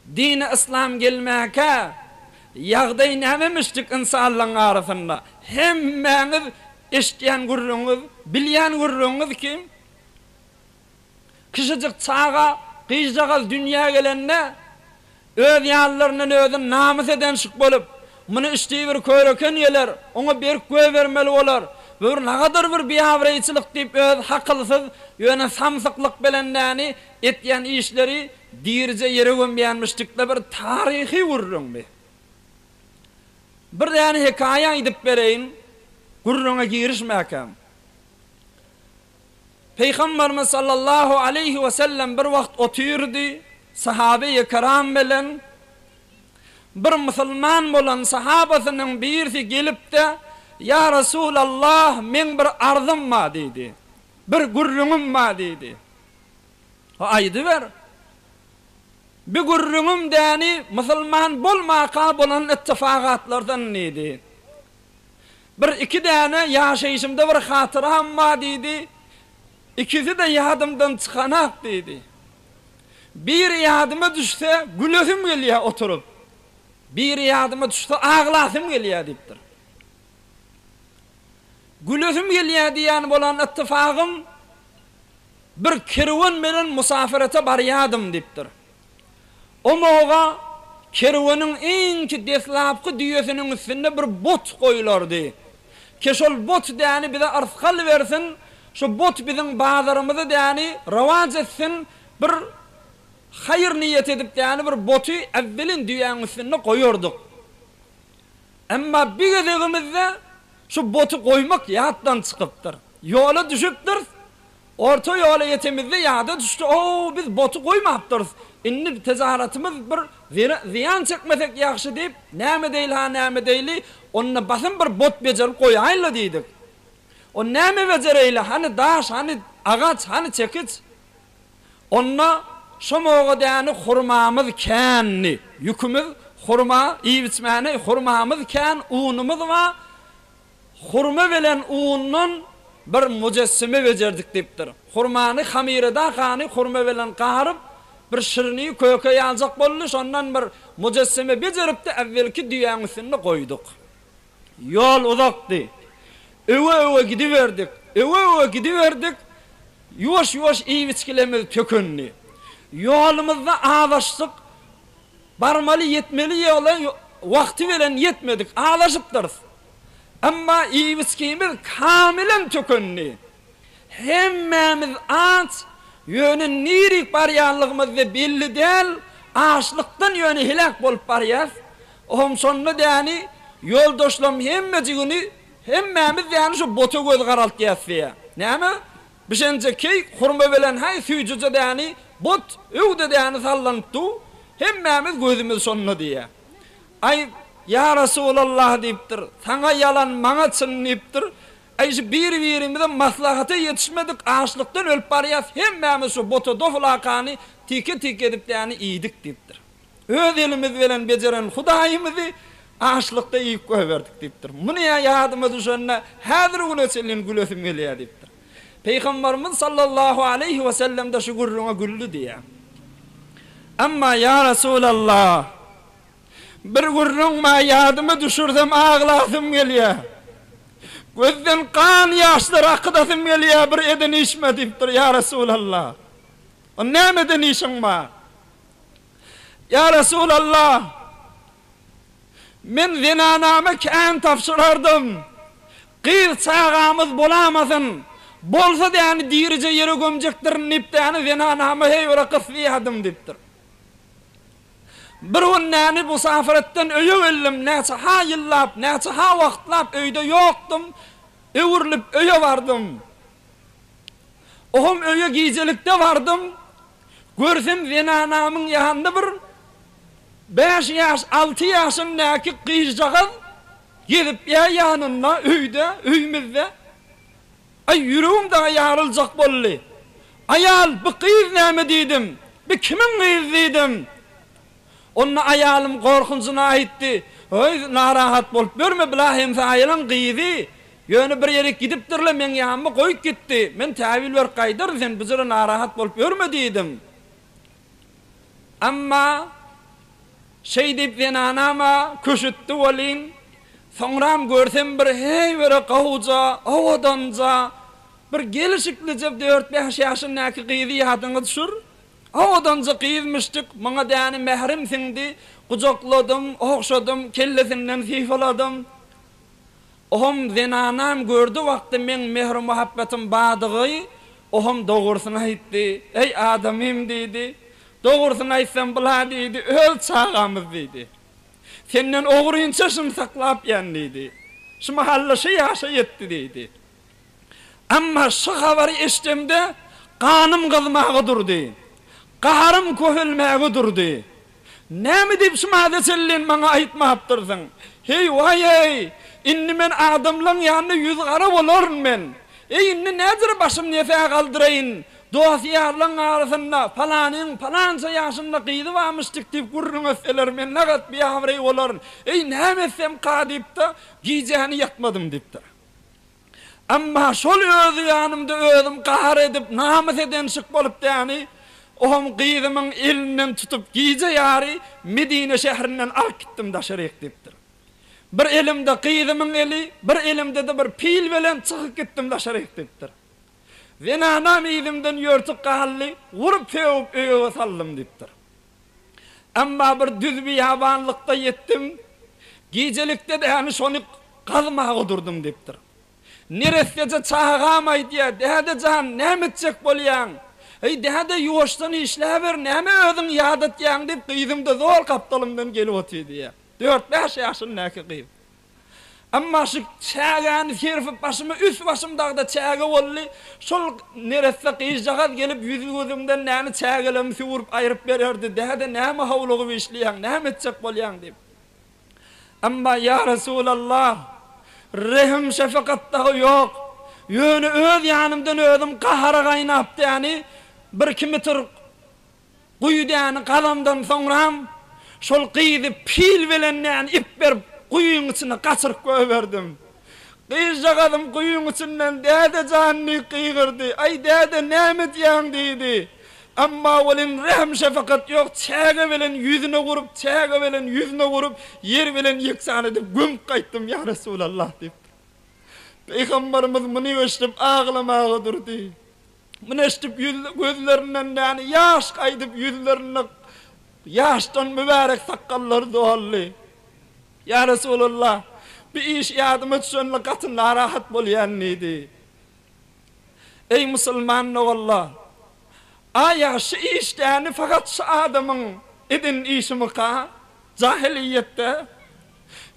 Dini yslam gelmäkä ýagdaý nämemişdik ynsanlaň arasynda? Hemmäňiz eşitýän gürrüňiňiz, bilýän gürrüňiňiz ki, kişijik çaga, gyzjagaz dünýä gelende öz ýalylaryndan özüni namys edenşik bolup, muny içdigi bir köreken geler, oňa berk göýbermeli bolar, bu bir nagadar bir biabraýçylyk diýip öz hakylsyz, ýöne samsyklyk belendäni Etýän işleri dirije ýere gömýänmiş dikde bir taryhy gürrüňdi. Bir däne hekaýa aýdyp bereýin, gürrüňe girişmäkäm. Pygamberimiz sallallahu aleýhi we sellem bir wagt otyrdy, sahabeýi keram bilen. Bir musulman bolan sahabasynyň birisi gelipde, Ýa Resulallah, meň bir arzym bar diýdi. Bir gürrüňim bar diýdi. Aýdyber. Bi gürrüňim däni musulman bolmaka bolan ittifagatlardan diýdi. Bir iki däne ýaşaýşymda bir hatyram bar diýdi. Ikisi-de ýadymdan çykanak diýdi. Biri ýadyma düşse gülesim gelýär oturyp. Biri ýadyma düşse aglasym gelýär diýipdir. Gülesim gelýär diýýän bolan ittifagym Bir kerwen bilen musapyrata barýardym diýipdir. O moga kerweniň iňki deslapky düýesiniň üstünde bir but goýulardy. Ki şol but däni bize yrsgal bersin, şu but biziň bazarymyzy däni rowaç etsin, bir haýyr niýet edip däni bir buty äwwelin düýäň üstünde goýardyk. Emma bir gezegimizde şu boty goýmak ýatdan çykypdyr. Ýola düşüpdiris. Orta ýola ýetemizde ýada düşdi, O, biz boty goýmapdyrys. Indi tejaratymyz bir zyýan çekmesek ýagşy diýip, näme edeyli-ha, näme edeyli, onda basym bir bot bejerip goýaýyl-la diýdik. O, näme bejereýli, hany daş, hany agaç, hany çekiç? Onda şo moga däni hurmamyz kändi. Ýükümiz hurma, iýip-içmäne hurmamyz kän, unumyz ba, hurma bilen undan bir mujessime bejerdik diýipdir. Hurmany hamyreda hany hurma bilen garyp, bir şirni köke ýaljak boldy, şondan bir mujessime bejerip-de äwwelki düýäň üstünde goýduk. Ýol uzakdy. Öwe-öwe gidiberdik. Öwe-öwe gidiberdik. Ýuwaş-ýuwaş iýgiçgilerimiz tökendi. Ýolumyzda azaşdyk. Barmaly, ýetmeli ýola wagty bilen ýetmedik. Azaşypdyrys. Emma iýgiçgimiz kamilen tökendi. Hemmämiz aç, ýöne nirik barýanlygymyz-da belli däl, açlykdan ýöne heläk bolup barýarys. Ohm şonda däni ýoldaşlam hemmejigini hemmämiz däni şu bota göz garaltýas diýä. Näme? Bişenje keý hurma belen haý süýjüje däni bot öwde däni sallanyp du hemmämiz gözümiz şonda diýä. Aý Ýa Rasulallah diýipdir, saňa ýalan maňa çyn diýipdir. Aý şu biri birimize maslahata ýetişmedik açlykdan ölüp barýas hemmämiz şu bota doflakany tike tike edip däni iýdik diýipdir. Öz elimiz bilen bejeren Hudaýymyzy açlykda iýip goýberdik diýipdir. Muny ýadyma düşende, häzir güne çenli gülesim gelýär diýipdir. Pygambarymyz sallallahu aleýhi wesellemde şu gürrüňe güldi diýýär. Emma ýa Resulallah, bir gürrüň bar ýadyma düşürsem aglasym gelýär. Gözden gan ýaşlar akydasym gelýär bir eden işime diýipdir, ýa Resulallah. Onda nämeden işiň bar? Ýa Resulalla! Men zenanama kän tabşyrardym. Gyz çagamyz bolamasyn, bolsa däni dirije ýere gömjekdirin diýip däni zenanama heýwere gysýardym diýipdir. Bir gün däni musafiretden öýe geldim, näçe-ha ýyllap, näçe-ha wagtlap öýde ýokdum, öwrülip öýe bardym. Ohum öýe gijelikde bardym. Görsem zenanamyň ýanynda bir bäş ýaş, alty ýaşyndaky gyzjagaz gezip ýa ýanynda, öýde, öýmizde. Aý, ýüregim dagy ýaryljak boldy. Aýal, bu gyz näme diýdim. Bi kimiň gyzy diýdim. Onda aýalym gorkunjyna aýtdy, Heý, narahat bolup ýörme, bila hemse aýalyň gyzy, ýöne bir ýerik gidipdir-le, meň ýanyma goýup gitdi. Men täwil berip gaýdaryn, sen bujura narahat bolup ýörme diýdim. Emma şeý diýip zenanam-a küşütdi welin, soňram görsem bir heý biri gowuja, owadanja, bir gelşiklije dört-bäş ýaşyndaky gyzy ýadyňa düşür, Owadanjyk gyz müşdük maňa däne mährim siňdi, Gujakladym, ogşadym, kellesinden sypaladym. Ohm zenanam gördi wagty meň mehri-muhabbetim badygy, Ohm dogrusyny aýtdy, Eý adamym diýdi, Dogrusyny aýtsam bula diýdi, Öz çagamyz diýdi. Senden ogrynça şum saklapýan diýdi, Şu mahal-da şu ýaşa ýetdi diýdi. Emma şu habary eşdemde ganym gyzmaga durdy. Gaharym köhelmäge durdy. Näme diýip şumada çenlin maňa aýtmapdyrsyň? Heý, waý-eý! Indi men adamlaň ýanyna ýüzgara bolaryn men. Eý, indi näder başym nesä galdyraýyn? Dost-ýarlaň arasynda Palanyň palança ýaşynda gyzy barmyşdyk diýip gürrüň etseler men nagat biabraý bolaryn. Eý, näme etsemka diýip-de, gijäni ýatmadym diýipdir. Emma şol özi ýanymda özüm gahar edip, namys edenşik bolup däni, ohm gyzymyň elinden tutup, gije ýary Medine şäherinden alyp gitdim daşaryk diýipdir. Bir elimde gyzymyň eli, bir elimde-de bir pil bilen çykyp gitdim daşaryk diýipdir. Zenanam yzymdan ýörtük galdy, urup-sögüp öýe saldym diýipdir. Emma bir düz biýabanlykda ýetdim. Gijelikde dämi şony gazmaga oturdym, diýipdir. Neresseje çagam aýdýar, Däde jan, näme etjek bolýaň? Eý, däde, ýuwaşdan işläber, näme özüň ýadatýaň, diýip, gyzym-da zol gapdalymdan gelip otyrdy, diýýär. Dört-bäş ýaşyndäki gyz. Emma şu çägäni serpip başyma üst-başym dagda çäge boldy. Şol neresse gyzjagaz gelip ýüzi-gözüňden näni çägelermi süwürip aýryp bererdi, Däde näme howlugyp işleýäň, näme etjek bolýaň diýip. Emma ýa Resulallah, rehim şepekat dagy ýok. Ýöne öz ýanymdan özüm gahara gaýnap däni bir kimitr Guýudaýany gazandan soňram, şol gyzy pil bilen näne ip berip, guýyň içine gaçyryp goýberdim. Gyzjagazym guýyň içinden Däde jan! diýip gygyrdy. Aý, däde, näme edýäň? diýdi. Emma welin rähm-şepakat ýok, çäge bilen ýüzüne urup, çäge bilen ýüzüne urup, ýer bilen ýeksan edip gömüp gaýtdym, ýa Resulallah! diýipdir. Pygamberimiz muny eşidip aglamaga durdy. Muny eşidip gözlerinden näni ýaş gaýdyp ýüzlerinde ýaşdan mübärek sakgallary doldy. Ýa Resulallah, bir iş ýadyma düşende gaty narahat bolýan diýdi. Eý musulman doganlar! Aýa şu iş däni fakat şu adamyň eden işimika jahylyýetde?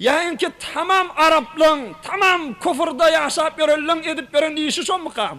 Ýa inki tamam araplaň, tamam kufrda ýaşap ýörenleň edip ýören işi şomikam?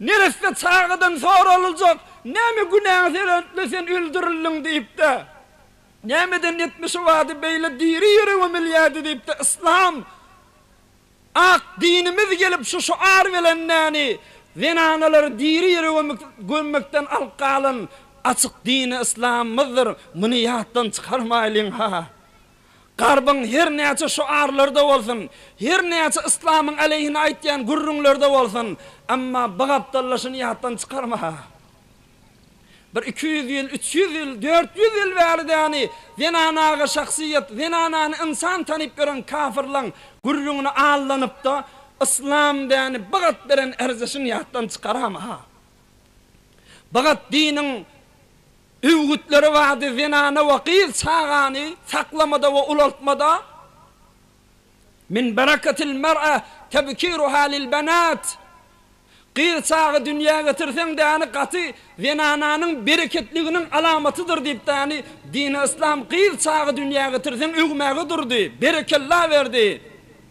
Neresse çagadan soralyljak, Näme günäň sebäpli sen öldürildiň diýip-de? Nämeden etmişi bady beýle diri ýüregi milýädi diýip-de Yslam ak dinimiz gelip şu şuar bilen näni zenanalary diri ýürege gömmekden alyp galan açyk dini Yslamymyzdyr, muny ýatdan çykarmaýlyň-ha! Garbyň her näçe şoarlary-da bolsun, her näçe yslamyň aleýhine aýtýan gürrüňleri-de bolsun, emma bu gapdallaşyny ýatdan çykarma-ha. Bir iki ýüz ýyl, üç ýüz ýyl, dört ýüz ýyl bäri-däni zenanaga şahsyýet, zenanany ynsan tanyp ýören kafyrlaň gürrüňine allanyp-da, yslam däni bu gat beren erzeşin ýatdan çykarama-ha. Bu gat diniň. Öwgütleri bardy, zenana we gyz çagany saklamada we ulaltmada, Min berakatil mer'a tebkiruha lil benat, Gyz çaga dünýä getirseň-de ýany gaty zenananyň bereketliginiň alamatydyr diýipdir, ýany dini yslam gyz çaga dünýä getirseň öwmäge durdy, berekella berdi.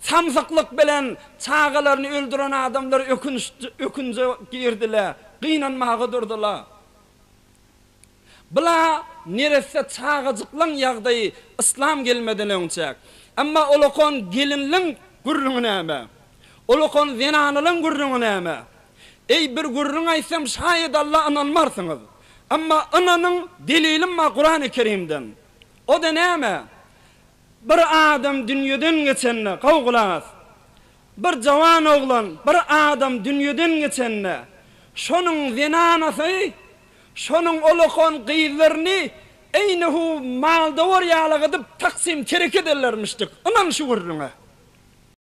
Samsyklyk bilen çagalaryny öldüren adamlar ökünje girdiler, gynanmaga durdular. Bula neresse çagajyklaň ýagdaýy yslam gelmeden öň çek. Emma olakan gelinliň gürrüňi näme? Olakan zenanalaň gürrüňi näme? Eý, bir gürrüň aýtsam şaýat Alla ynanmarsyňyz. Emma ynanyň, delilim bar Kurany Kerimden. O-da näme? Bir adam dünýeden geçende, gowy gulak as, bir jawan oglan, bir adam dünýeden geçende, şonuň zenanasy, şonuň olakan gyzlaryny eýni hu mal-dowar ýaly gydyp, taksym-terek ederlermişdik. Ynan şu gürrüňe.